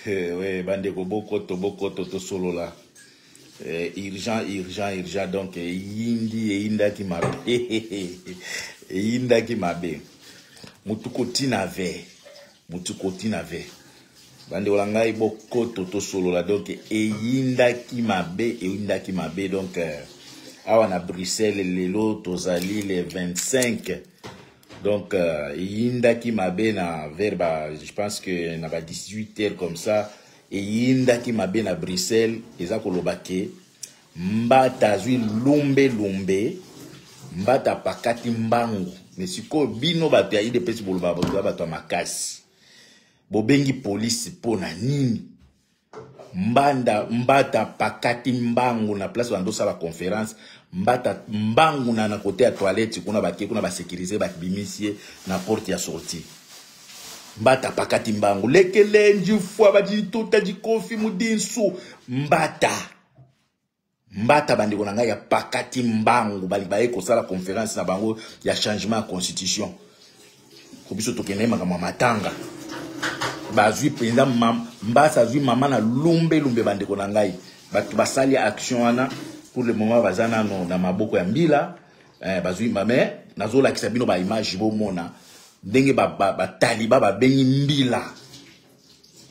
Eh, oui, bandeko bokoto bokoto tosolola eh, urgent urgent urgent donc eyindi eh, eyindaki mabe eyindaki mabe mutu kotina ve mutu kotina ve bandeko na ngai bokoto tosolola donc eyindaki mabe eyindaki mabe donc euh, awa na bruxelles lelo tozali le 25 Donc, euh, Yinda qui m'a na vers, bah, je pense que na 18 heures comme ça, et Yinda qui m'a na Bruxelles, et ça kolobake, mbata zui lumbe lumbe, mbata pakati mbangu. Mais si ko bino ba pia ide pesi boloba ba ba to makasi. Bobengi police pona nini? mbanda mbata pakati mbangu na place bando sala conference mbata mbangu na na kote ya toilette kuna bake kuna basekirize babimisi ye na porte ya sortie mbata pakati mbangu lekelenji fwa bajituta jikofi mudinsu mbata mbata bandeko na ngai ya pakati mbangu bali baye kosala conference na bango ya changement ya constitution ko biso tokende makambo ya matanga bazwi mpenza mbasa azwi mama na lumbe lumbe bandeko na ngai bato basali action wana pour le moment baza nano na maboko ya mbila eh, bazwi mais nazolakisa bino baimage bomona ndenge bataliba ba, ba babengi mbila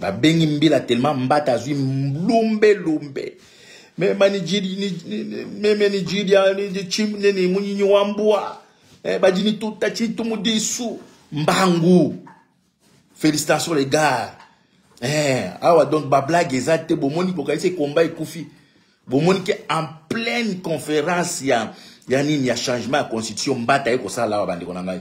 babengi mbila tellement mbata azwi lumbe lumbe meme nigeria nini munyinyi wa mbwa eh, bajini tuta chitumu disu mbangu félicitation les gars eh, awa donc bablague eza te bomoni kokanisa ekomba ekufi bomoni ke en pleine conférence ya, ya nini ya changement ya constitution mbata ye kosala awa bandeko na ngai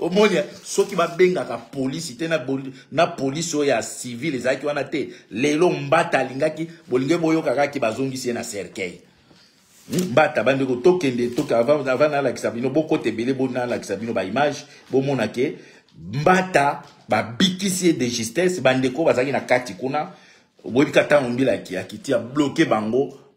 omoni soki babengaka polisi te na polisi oyo ya civil ezalaki wana te lelo mbata alingaki bolingi boyoka kaka ke bazongisi ye na cercueil mbata bandeko tokende toke avant nalakisa bino bokota ebele bo nalakisa bino baimage bomona ke mbata babikisi ye de justesse bandeko bazalaki na kati kuna oboyebi ka ntango mbila akiti abloke bango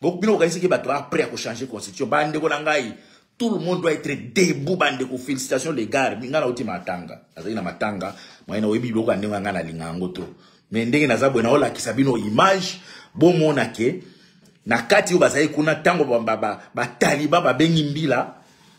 bino bokanisi ke bato après ya kochange constitution bandeko na ngai tout le monde doit être debout bandeko félicitation les gars ngai nauti matanga nazali na matanga moye na oyebi biloko ya ndenge ya ngai nalinga yango to me ndenge naza boye naolakisa bino image bomona ke na kati oyo bazali kuna ntango bataliba babengi mbila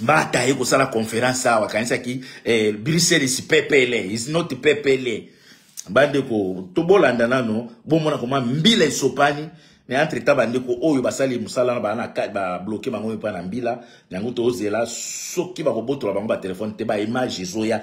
mbata aye kosala conference awa akanisaki eh, bruxelles pepele is not pepele bandeko tobolanda nano bomona koma mbila esopani mais entre temps bandeko oyo basali mosala na babloke bango mpe na mbila yango tozela soki bakobotola bango batelefone te baimage ezoya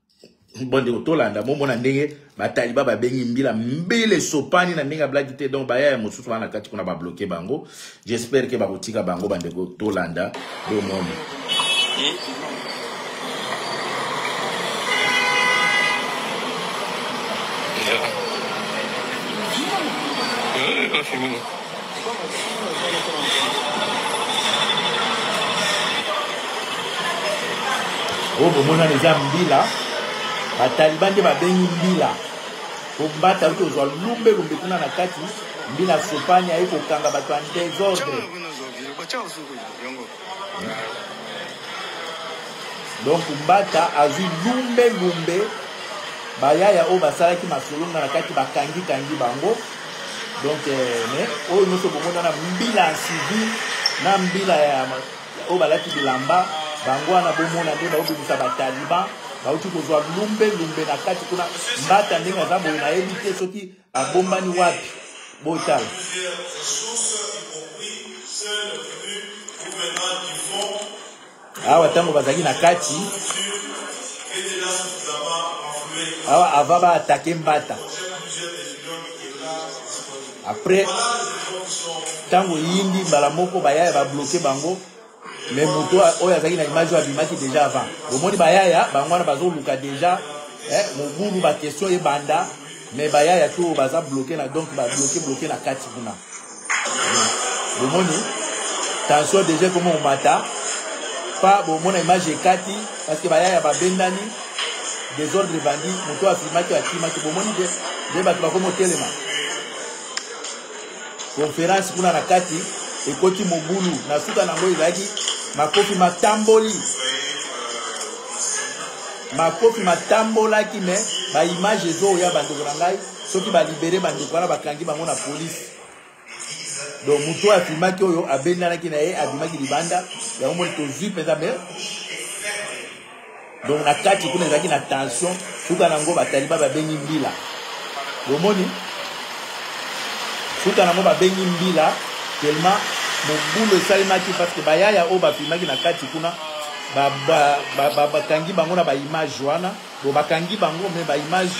bondeko tolanda bomona ndenge bataliba babengi mbila mbila esopani na ndenge ablaki te donc baya ya mosusu wana kati kuna babloke bango j'espère ke bakotika bango bandeko tolanda bomoni Yeah. oyo bomonani eza mbila bataliban nde babengi mbila kombata oyo tozwa lumbe lumbe kuna na kati mbila sopani aye kokanga bato ya desordre donc mbata azwi lumbe lumbe bayaya oyo basalaki masolo nga na kati bakangi kangi bango donc eh, mais oyo nyonso bomona na mbila ya civil na mbila ya oyo balati bilamba bango wana bomona nde baobimisa bataliban bauti kozwa lumbe lumbe na kati kuna mbata ndenge aza boye nayebi te soki Abombani wapi? Botala. awa ntango bazalaki na kati awa ava baatake mbata après ntango eyindi mbala moko bayaya babloke bango mais moto oyo azalaki na image oyo abimaki déjà avant bomoni bayaya bango wana bazoluka déjà eh, mobulu baquestion ebanda mais bayaya to oyo baza bloke na donc babloke bloke na kati kuna bomoni tension déjà ekoma omata pa bomona image ekati parce que bayaya babendani desordre ebandi moto afimaki akimaki bomoni nde bato bakomi otelema conference kuna na kati ekoti mobulu na suka nango ezalaki makofi matamboli makofi matambolaki me baimage ezooya bandeko na ngai soki balibere bandeko wana bakangi bango na polise donc moto oyo afilmaki oyo abendanaki na ye abimaki libanda yango moni tozwi mpenza me donc na kati kuna ezalaki na tension suka na yango bataliba babengi mbila bomoni suka na yango babengi mbila telema mobulu esalemaki parce que bayaya oyo bafilmaki na kati kuna bakangi bango na baimage wana bo bakangi bango me baimage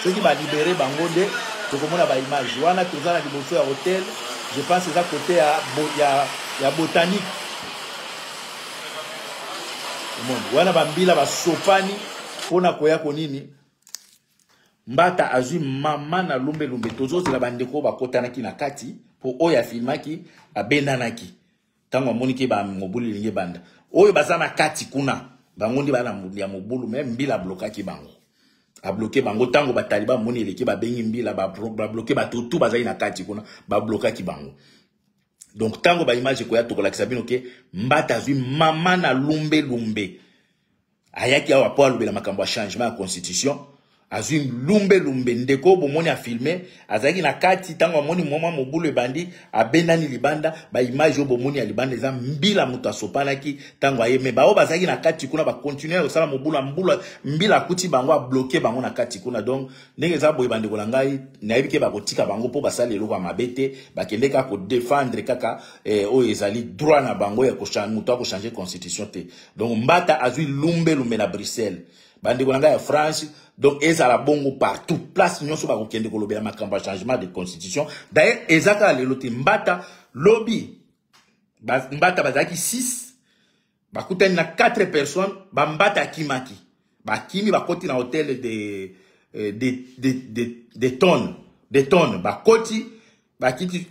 soki balibere bango nde tokomona baimage wana toza na liboso ya hotel je pense eza kote ya, ya, ya botanique omoni wana bambila basopani mpo na koya ko nini mbata azwi mama na lumbelumbe tozozela bandeko oyo bakotanaki na kati mpo oyo afilmaki babendanaki ntango amoniki mobulu elingi ebanda oyo baza na kati kuna bango nde bana ya mobulu me mbila ablokaki bango abloke bango ntango bataliba amoni eleki babengi mbila babloke bato tu bazali na kati kuna bablokaki bango donc tango ba image ekoya tokolakisa bino ke mbata azwi mama na lumbe lumbe ayaki awa mpo alobela makambo ya changement ya constitution azwi lumbe lumbe ndeko bomoni afilme azalaki na kati ntango amoni moma mobulu ebandi abendani libanda baimage oyo bomoni ya libanda eza mbila moto asopanaki ntango aye me baoyo bazalaki na kati kuna bakontinue kosala mobulu mbila akuti bango abloke bango na kati kuna donc ndenge eza boye bandeko na ngai nayebi ke bakotika bango mpo basali eloko ya mabe te bakende kaka kodefendre kaka eh, oyo ezali droit na bango ya moto akochange constitution te donc mbata azwi lumbelumbe na bruxelles bandeko na ngai ya france donc ezala bongo partout place nyonso bakokende kolobela makambo ya changement de constitution d'ailleurs eza kaka lelo te mbata lobi mbata bazalaki 6 bakutani na 4 personnes bambata akimaki bakimi bakoti na hotel de, de, eh, de, de, de, de tonne de tonne bakoti bakiti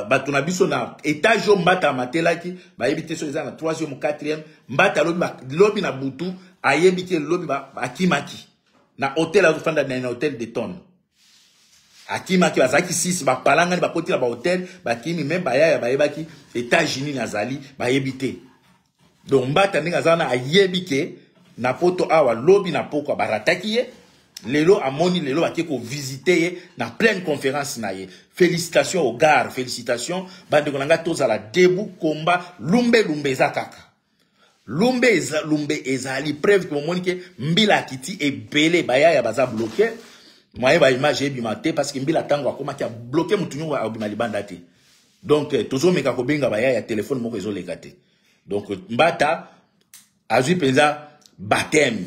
bato na biso na etage oyo mbata amatelaki bayebi te soki eza na 3e 4e mbata lobi na butu ayebi te lobi akimaki na hotel azofanda na hotel de tonne akimaki bazalaki sisi bapalangani bakoti na bahotel bakimi meme bayaya bayebaki états-unis nazali bayebi te donc mbata ndenge aza wana ayebi ke na poto awa lobi na pokwa barataki ye lelo amoni lelo bake kovisite ye na pleine conférence na ye félicitation au gare félicitation bandeko na ngai tozala debu komba lumbe lumbe eza kaka lumbe eza, lumbe ezali preuve ke bomoni ke mbila akiti ebele bayaya baza bloke mwaye baimage ebima te parce que mbila ntango akomaki abloke motu nyongo akobima libanda te donc eh, tozomeka kobenga baya ya telefone moko ezoleka te donc mbata azwi mpenza bateme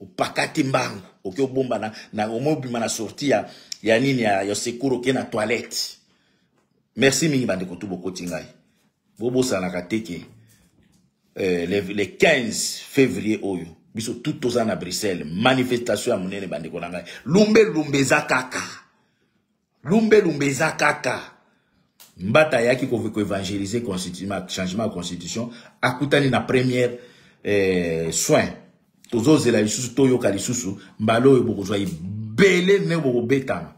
opakati mbangu oke obomba na, na omobima na sorti ya, ya nini ya, ya sekuru oke na toilette merci mingi bandeko tu bokoti ngai bobosanaka te ke eh, le, le 15 février oyo biso tout toza na bruxelles manifestation ya monene bandeko na ngai lumbe lumbe eza kaka lumbe lumbe eza kaka mbata ayaki koevangelize changement ya constitution akutani na première eh, soin tozozela lisusu toyoka lisusu mbala oyo bokozwa ebele ne bokobetama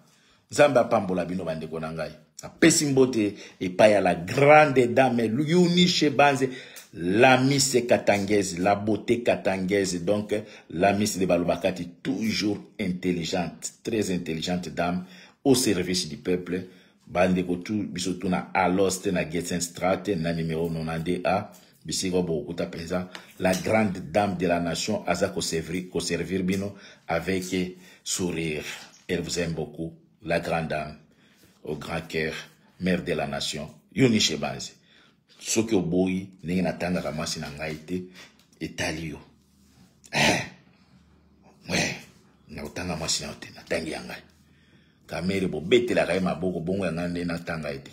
nzambe apambola bino bandeko na ngai apesi mbote epai ya la grande dame yunishe banze la mise katangaise la beauté katangaise donc La Miss de Balubakati, toujours intelligente, très intelligente dame, au service du peuple. bandeko tu biso tu na alos te na getsenstrat te na numero 92 a bisika oyo bokokuta mpenza la grande dame de la nation aza koservir bino avec sourire elle vous aime beaucoup la grande dame au grand cœur mère de la nation yoni shebanzi soki oboyi ndenge natangaka mwasi na ngai te etali yo eh, eh, na kotanga mwasi na yo te natangi ya ngai kamere bobetelaka ye maboko bongo ya ngai nde natanga ye te